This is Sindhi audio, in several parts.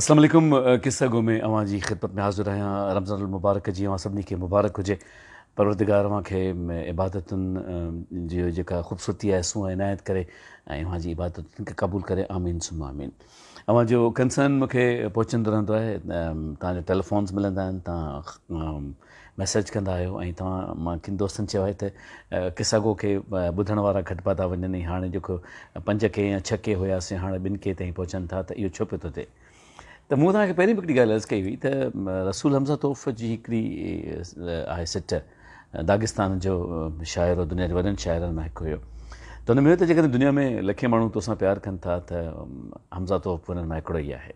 اسلام عليڪم قصه گو ۾ اوهان جي خدمت ۾ حاضر آهيان رمضان المبارڪ جي اوهان سڀني کي مبارڪ هجي پروردگار اوهان کي عبادتن جي جيڪا خوبصورتي آهي سو عنايت ڪري ۽ اوهان جي عبادتن کي قبول ڪري آمين ثم آمين اوهان جو ڪنسرن مونکي پهچندو رهندو آهي توهان جا ٽيليفونز ملندا آهن توهان ميسيج ڪندا آهيو ۽ توهان مان ڪن دوستن چيو آهي ته قصه گو کي ٻڌڻ وارا گهٽبا ٿا وڃن ۽ هاڻي جيڪو پنج ڪي يا ڇهه ڪي هيا سي هاڻي ٻن ڪي تائين پهچن ٿا ته اهو ڇو پيو ٿو ٿئي ته مون توهان کي پهرين به هڪڙي ڳالهه عرض ڪئي هئي ته رسول حمزه توف جي هڪڙي آهي سٽ داغستان جو شاعر هو دنيا جي وڏن شاعرن مان هڪ هيو ته هن ۾ هيو ته جيڪڏهن دنيا ۾ لکين ماڻهو توسان پيار ڪن ٿا ته حمزه توف انهن مان هڪڙو ئي آهي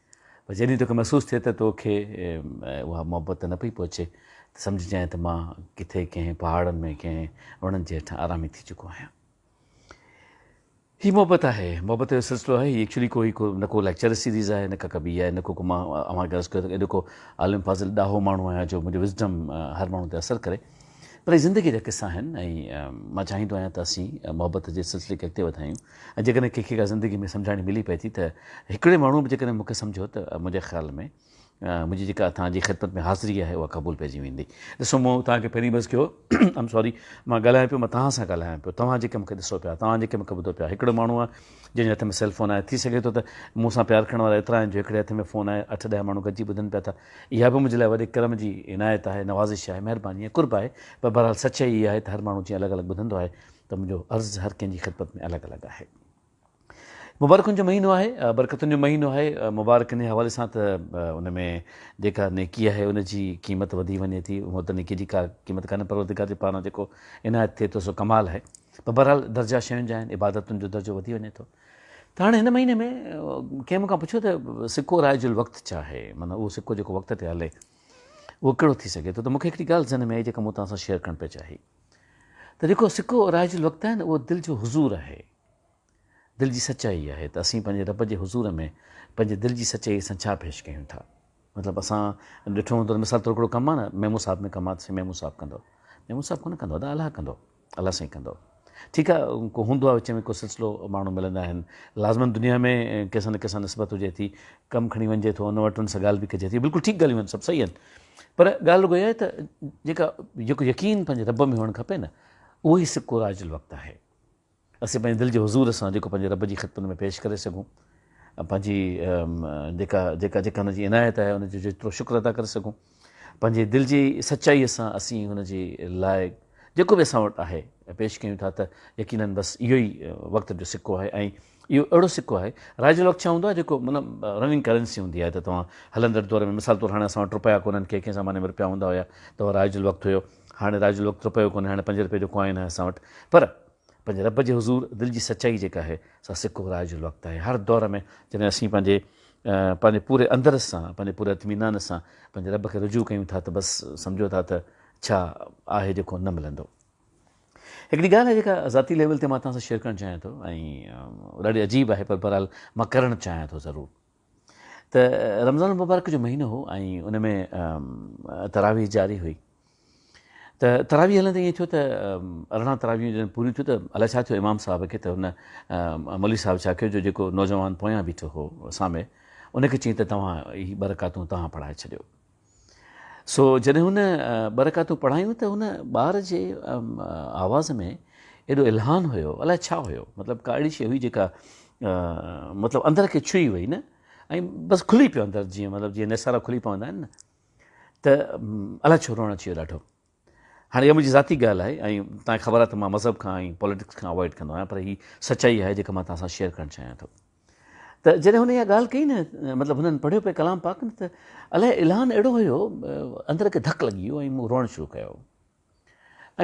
پر جڏهن توکي محسوس ٿئي ته تو کي اها محبت نه پئي پهچي ته سمجهه جانء ته مان ڪٿي ڪنهن پهاڙن ۾ ڪنهن وڻن جي هيٺان آرامي ٿي چڪو آهيان. هي محبت آهي، محبت جو سلسلو آهي. هي ايڪچولي ڪو هي ڪو نه ڪو ليڪچر سيريز آهي نه ڪا ڪا ٻي آهي نه ڪو ڪو مان اوهان کي عرض ڪيو ته ايڏو ڪو عالم فاضل ڏاهو ماڻهو آهيان جو منهنجو وزڊم هر ماڻهو تي اثر ڪري پر هي زندگي جا قصا آهن ۽ مان چاهيندو آهيان ته اسين محبت جي سلسلي کي اڳتي وڌايون ۽ جيڪڏهن ڪنهن کي ڪا زندگي ۾ سمجهاڻي ملي پئي ٿي ته هڪڙي ماڻهوء به جيڪڏهن مون کي سمجهيو ته منهنجي خيال ۾ منهنجي جيڪا اوهان جي خدمت ۾ حاضري آهي اها قبول پئجي ويندي. ڏسو مون توهان کي پهرين به عرض ڪيو هو آئم ساري مان ڳالهايان پيو مان توهان سان ڳالهايان پيو توهان جيڪي مون کي ڏسو پيا توهان جيڪي مون کي ٻڌو پيا هڪڙو ماڻهو آهي جنهن جي هٿ ۾ سيل فون آهي ٿي سگهي ٿو ته مون سان پيار ڪرڻ وارا ايترا آهن جو هڪڙي هٿ ۾ فون آهي اٺ ڏهه ماڻهو گڏجي ٻڌن پيا ٿا اها به منهنجي لاء وڏي ڪرم جي عنايت آهي نوازش آهي مهرباني ۽ قرب آهي پر بهرحال سچائي اها آهي ته هر ماڻهو جيئن الڳ الڳ ٻڌندو آهي ته منهنجو عرض هر ڪنهن جي خدمت ۾ الڳ الڳ آهي. مبارڪن جو مهينو آهي، برڪتن جو مهينو آهي، مبارڪ انهي حوالي سان ته ان ۾ جيڪا نيڪي آهي ان جي قيمت وڌي وڃي ٿي، هونء ته نيڪي جي ڪا قيمت ڪانهي پروردگار جي پاران جيڪو عنايت ٿئي ٿو سو ڪمال آهي پر بهرحال درجا شين جا آهن، عبادتن جو درجو وڌي وڃي ٿو. ته هاڻي هن مهيني ۾ ڪنهن مون کان پڇيو ته سڪو رائج الوقت ڇا آهي؟ معنيٰ اهو سڪو جيڪو وقت تي هلي اهو ڪهڙو ٿي سگهي ٿو ته مون کي هڪڙي ڳالهه ذهن ۾ آئي جيڪا مون توهان سان شيئر ڪرڻ پئي چاهي. ته جيڪو سڪو اورائج الوقت آهي نه اهو دل جو حضور آهي دل جي سچائي آهي ته اسين پنهنجي رب جي حضور ۾ پنهنجي دل جي سچائي سان ڇا پيش ڪيون ٿا مطلب اسان ڏٺو هوندو مثال طور ڪهڙو ڪم آهي نه ميمو صاحب ۾ ڪم آهي سائين ميمو صاحب ڪندو ميمو صاحب ڪونه ڪندو ادا الله ڪندو الله سائين ڪندو ٺيڪ آهي ڪو هوندو آهي وچ ۾ ڪو سلسلو ماڻهو ملندا آهن لازمن دنيا ۾ ڪنهن سان نه ڪنهن سان نسبت هجي ٿي ڪم کڻي وڃجي ٿو ان وٽ ان سان ڳالهه به ڪجي ٿي بلڪل ٺيڪ ڳالهيون آهن سڀ صحيح آهن پر ڳالهه رڳو اها آهي ته جيڪا جيڪو يقين پنهنجي رب ۾ هئڻ کپي نه اهو ئي سڪو راج الوقت آهي اسين پنهنجي دل جي حضور سان جيڪو پنهنجي رب جي خدمت ۾ پيش ڪري سگهون پنهنجي جيڪا جيڪا جيڪا هن جي عنايت آهي ان جو جيترو شڪر ادا ڪري سگهون پنهنجي دل جي سچائيء سان اسين هن جي لاء جيڪو به اسان وٽ آهي پيش ڪيون ٿا ته يقينن بس اهو ئي وقت جو سڪو آهي ۽ اهو اهڙو سڪو آهي، رائيجل وقت ڇا هوندو آهي جيڪو معنيٰ رننگ ڪرنسي هوندي آهي ته توهان هلندڙ دور ۾ مثال طور هاڻي اسان وٽ رپيا ڪونهن ڪنهن ڪنهن زماني ۾ رپيا هوندا هيا ته اهو رائيجل وقت هيو هاڻي رائيجل وقت رپيو ڪونهي هاڻي پنج رپئي جو ڪوائن آهي اسان وٽ پر پنهنجي رب جي حضور دل جي سچائي جيڪا آهي سا سڪو رائيجل وقت آهي هر دور ۾ جڏهن اسين پنهنجي پنهنجي پوري اندر سان پنهنجي پوري اطمينان سان پنهنجي رب کي رجوع ڪيون ٿا ته بس سمجهو ٿا ته ڇا آهي جيڪو نه ملندو. هڪڙي ڳالهه آهي جيڪا ذاتي ليول تي مان توهان سان شيئر ڪرڻ چاهيان ٿو ۽ ڏاڍي عجيب آهي پر بهرحال مان ڪرڻ چاهيان ٿو ضرور ته رمضان المبارڪ جو مهينو هو ۽ ان ۾ تراويح جاري هئي ته تراويح هلندي ائين ٿيو ته ارڙهن تراويح جڏهن پوريون ٿيو ته الاء ڇا ٿيو امام صاحب کي ته هن مولوي صاحب ڇا ڪيو جو جيڪو نوجوان پويان بيٺو هو سامي ان کي چيائين ته توهان هي ٻه رڪعتون توهان پڙهائي ڇڏيو سو جڏهن هن ٻه رڪعتون پڙهايون ته هن ٻار جي آواز ۾ ايڏو الهان هيو الاء ڇا هيو مطلب ڪا اهڙي شيء هئي جيڪا مطلب اندر کي ڇهي وئي نه ۽ بس کلي پيو اندر جيئن مطلب جيئن نسارا کلي پوندا آهن نه ته الاء ڇو روئڻ اچي ويو ڏاڍو هاڻي اها منهنجي ذاتي ڳالهه آهي ۽ توهان کي خبر آهي ته مان مذهب کان ۽ پوليٽڪس کان اوائڊ ڪندو آهيان پر هي سچائي آهي جيڪا مان توهان سان شيئر ڪرڻ چاهيان ٿو ته جڏهن هن اها ڳالهه ڪئي نه مطلب هنن پڙهيو پئي ڪلام پاڪ نه ته الاء الهان اهڙو هيو اندر کي ڌڪ لڳي ويو ۽ مون روئڻ شروع ڪيو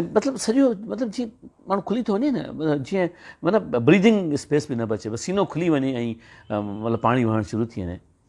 ۽ مطلب سڄو مطلب جيئن ماڻهو کلي ٿو وڃي نه جيئن مطلب بريدنگ اسپيس به نه بچي بس سينو کلي وڃي ۽ مطلب پاڻي وهڻ شروع ٿي وڃي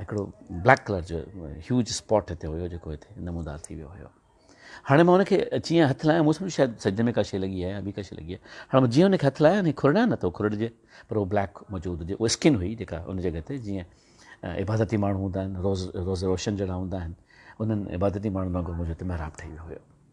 هڪڙو بليڪ ڪلر جو هيوج اسپاٽ هتي هيو جيڪو هتي نمودار ٿي ويو هيو هاڻي مان ان کي اچي هٿ لايو مون سمجهيو شايد سج ۾ ڪا شيء لڳي آهي يا ٻي ڪا شيء لڳي آهي هاڻي مان جيئن ان کي هٿ لايو ني کورڙ نه ٿو کورڙجي پر اهو بليڪ موجود هجي اها اسڪن هئي جيڪا ان جڳهه تي جيئن عبادتي ماڻهو هوندا آهن روز روز روشن جهڙا هوندا آهن انهن عبادتي ماڻهن وانگر منهنجو هتي محراب ٺهي ويو هيو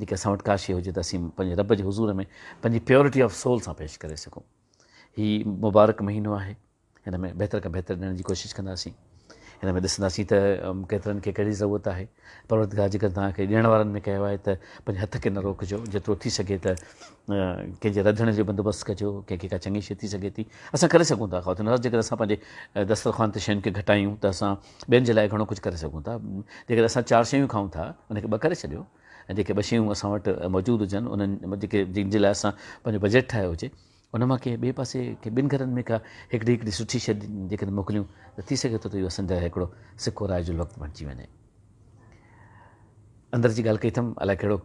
جيڪي اسان وٽ ڪاشي هجي ته اسين پنهنجي رب جي حضور ۾ پنهنجي پيورٽي آف سول سان پيش ڪري سگهون هي مبارڪ مهينو آهي هن ۾ بهتر کان بهتر ڏيڻ جي ڪوشش ڪنداسين هن ۾ ڏسنداسين ته ڪيترن کي کي ضرورت آهي پروردگار جيڪر توهان کي ڏيڻ وارن ۾ ڪيو آهي ته پنهنجي هٿ کي نه روڪجو جيترو ٿي سگهي ته ڪنهن جي رڌڻ جو بندوبست ڪجو ڪنهن کي ڪا چڱي شي ٿي سگهي ٿي اسان ڪري سگهون ٿا خاطر جيڪر اسان پنهنجي دسترخوان تي شين کي گهٽايون ته اسان ٻين جي لاء گهڻو ڪجهه ڪري سگهون ٿا. جيڪڏهن اسان چار شيون کائون ٿا ان کي ٻه ڪري ڇڏيو ۽ جيڪي ٻه شيون اسان وٽ موجود هجن انهن جيڪي جن جي لاء اسان پنهنجو بجيٽ ٺاهيو هجي ان مان ڪنهن ٻئي پاسي ڪنهن ٻن گهرن ۾ ڪا هڪڙي هڪڙي سٺي شئي جيڪڏهن موڪليون ته ٿي سگهي ٿو ته اهو اسان جي لاء هڪڙو سڪو رائج الوقت بڻجي وڃي. اندر جي ڳالهه ڪئي اٿم، الائي ڪهڙو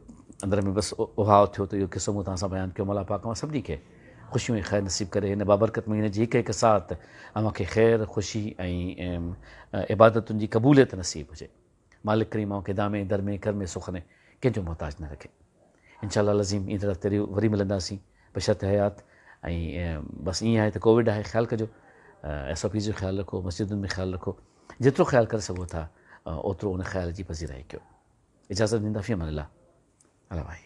اندر ۾ بس اوهاء اٿيو ته اهو قصو مون توهان سان بيان ڪيو، مولا پاڪ اوهان سڀني کي خوشيون ۽ خير نصيب ڪري، هن بابرڪت مهيني جي هڪ هڪ ساعت اوهان کي خير، خوشي ۽ عبادتن جي قبوليت نصيب هجي، مالڪ ڪريم اوهان کي دامي، درمي، ڪرمي، سخني ڪنهن جو محتاج نه رکي. انشاء الله العظيم ايندڙ هفتي ري وري ملنداسين بشرط حيات ۽ بس ايئن آهي ته ڪووڊ آهي خيال ڪجو ايس او پيز جو خيال رکو مسجدن ۾ خيال رکو جيترو خيال ڪري سگهو ٿا اوترو ان خيال جي پذيرائي ڪيو اجازت ڏيندا في امان الله الله